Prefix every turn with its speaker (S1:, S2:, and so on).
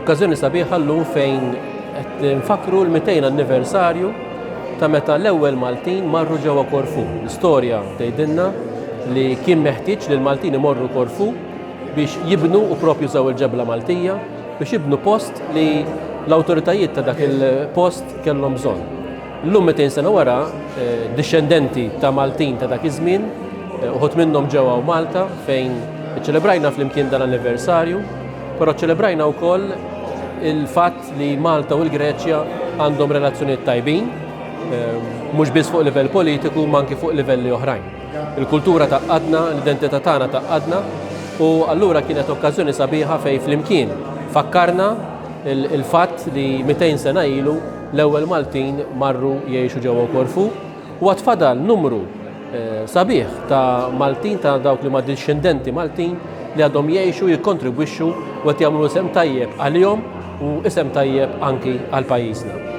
S1: Okkażjoni sabiħa llum fejn qed nfakru l-200 anniversarju ta' meta l-ewwel Maltin marru ġewwa Korfu. L-istorja tgħidilna li kien meħtieġ li l-Maltin imorru Korfu biex jibnu u propju żaw il-ġebla Maltija biex jibnu post li l-awtoritajiet ta' dak il-post kellhom bżonn. Llum 200 sena wara, eh, dixxendenti ta' Maltin ta' dak iż-żmien, eh, uħut minnhom ġewwa Malta fejn iċċelebrajna flimkien dan l-anniversarju Però ċċelebrajna wkoll il-fatt li Malta u l-Greċja għandhom relazzjonijiet tajbin, ehm, mhux biss fuq livell politiku, ma anki fuq livelli oħrajn. Il-kultura ta' qadna, l-identità tagħna ta' qadna, u allura kienet okkażjoni sabiħa fej flimkien fakkarna il-fatt li 200 sena ilu l-ewwel Maltin marru jgħixu ġewwa Korfu U għad fadal numru sabiħ ta' Maltin ta' dawk li ma' discendenti Maltin li għadhom jgħixu, jikkontribwixxu u qed jagħmlu isem tajjeb għalihom u isem tajjeb anki għal pajjiżna.